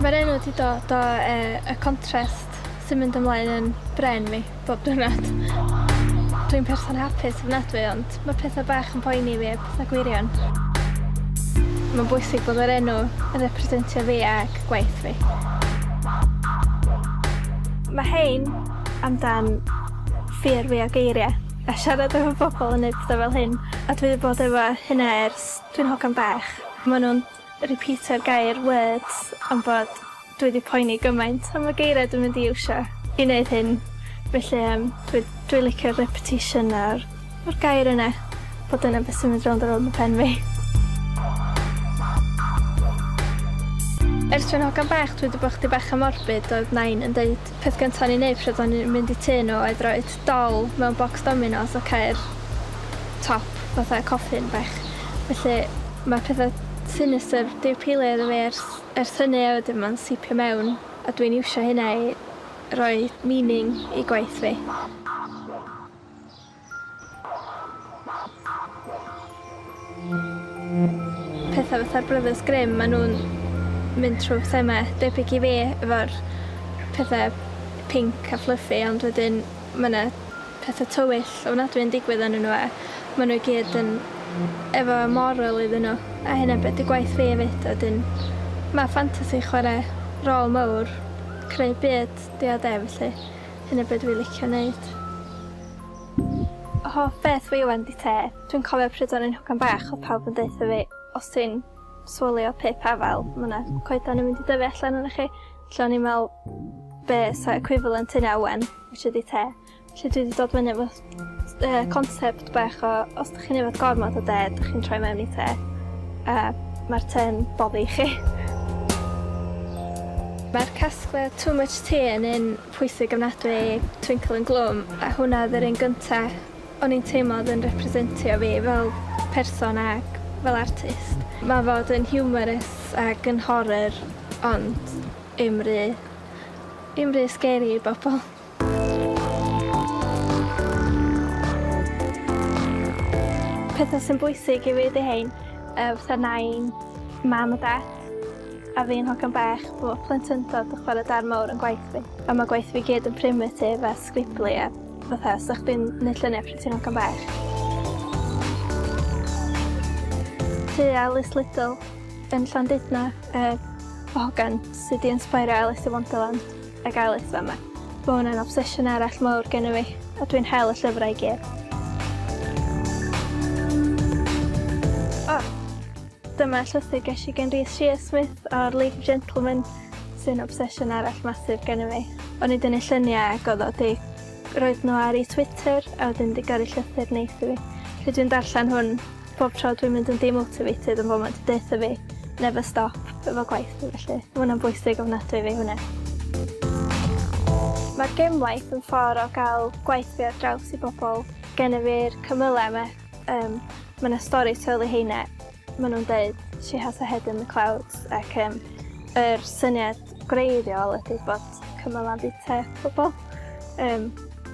Mae'r enw wedi dod o yy y contrast sy'n mynd ymlaen yn brên fi. Bob diwrnod. Dwi'n person hapus ofnadwy ond mae pethau bach yn poeni fi, pethau gwirion. Mae'n bwysig bod yr enw yn representio fi ac gwaith fi. Mae hein amdan ffyr fi o geiriau a siarad efo bobl yn neud pethau fel hyn a dwi wedi bod efo hynna ers dwi'n hogan bach. Maen nhw'n Repeatio'r gair words am fod dwi wedi poeni gymaint am y geiriau dwi'n mynd i iwsio i wneud hyn, felly yym dwi dwi licio'r repetition a'r a'r gair yna, fod dyna beth sy'n mynd rownd a rownd yn pen fi. Ers dwi'n hogan bach dwi 'di bod chydig bach yn morbid oedd Nain yn deud peth gynta o'n i'n neud pryd o'n i'n mynd i tŷ nhw oedd roid dal mewn bocs dominos a ceir top fatha coffin bach felly mae petha sinistr diw pili iddo fi ers ers hynny a wedyn ma'n sipio mewn a dwi'n iwsio hynna i roi meaning i gwaith fi. Petha fatha'r Brothers Grimm ma' nw'n mynd trw thema debyg i fi efo'r pethe pinc a fluffy ond wedyn ma' 'na petha tywyll ofnadwy yn digwydd ynnyn nw a ma' nw i gyd yn efo moral iddyn nw a hynna be' 'di gwaith fi efyd a wedyn ma' ffantasi chware rôl mowr creu byd 'di o 'de felly hynna be' dwi licio neud. Hoff beth fi ŵan 'di te. Dwi'n cofio pryd o'n i'n hogan bach o'dd pawb yn deutha fi os ti'n swalio pip afal ma' 'na coedan yn mynd i dyfu allan ynoch chi. Felly o'n i'n me'wl be' sa equivalent hynna ŵan which ydi te. Felly dwi 'di dod fyny efo yy concept bach o os 'dych chi'n yfed gormod o de 'dych chi'n troi mewn i te a ma'r te'n boddi chi. Mae'r casgliad too much tea yn un pwysig ofnadwy i Twinkle yn Gloom a hwnna odd yr un gynta O'n i'n teimlo oedd yn representio fi fel person ac fel artist. Mae fod yn humorous ac yn horror ond i'm ry i'm ry scary i bobl. Pethau sy'n bwysig i fi ydi rhein, yy fatha nain, mam a dat, a fi'n hogan bach, bo' plentyndod yn chwarae darn mowr yn gwaith fi, a ma' gwaith fi gyd yn primitive a sgriblu a fatha sa chdi'n neud llunia' pryd ti'n ogan bach. Ti a Lis Lydall yn Llandudno yy o hogan sy 'di insbeiro Alis yn Wonderland ag Alis fama. Ma' wnna'n obsesiwn arall mowr genno fi a dwi'n hel y llyfrau i gyd. O! Dyma llythyr ges i gen Rhys Shearsmith o'r League of Gentlemen sy'n obsesiwn arall masif gen i fi. O'n i dynnu lluniau ac oedd o di roedd nhw ar ei Twitter a wedyn di gyrru llythyr neis i fi. Felly dwi'n darllen hwn pob tro dwi'n mynd yn demotivated yn fod mae'n di deutha fi never stop efo gwaith fi felly. Mae hwnna'n bwysig ofnadwy fi hwnna. Mae'r gemwaith yn ffordd o gael gwaith fi ar draws i bobl. Gennyf fi'r cymylau yma Um, mae yna stori teulu heine, maen nhw'n dweud She has a head in the clouds ac um, yr er syniad gwreiddiol ydy bod cymal am bita pobl. Um,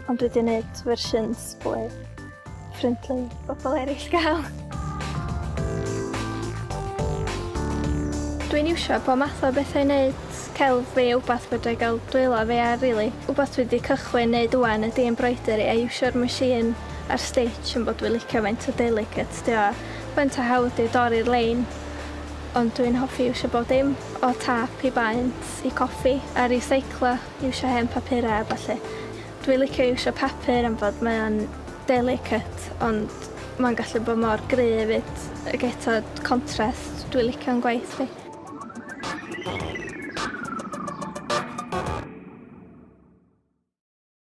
ond dwi wedi gwneud fersiwns fwy ffrindlu bobl eraill gael. Dwi'n iwsio po math o bethau i wneud celf fi a wbath fedra i gael dwylo fi ar rili. Wbath dwi wedi cychwyn wneud wwan ydy embroidery a iwsio'r machine ar stitch am bod dwi licio faint o delicates dio a faint o hawdd dio i dorri'r lein ond dwi'n hoffi iwsio bob dim o tâp i baent i coffi a riseiclo iwsio hen papura a ballu. Dwi licio iwsio papur am fod mae o'n delicate ond mae'n gallu bod mor gry efyd ag eto contrast dwi licio yn gwaith fi.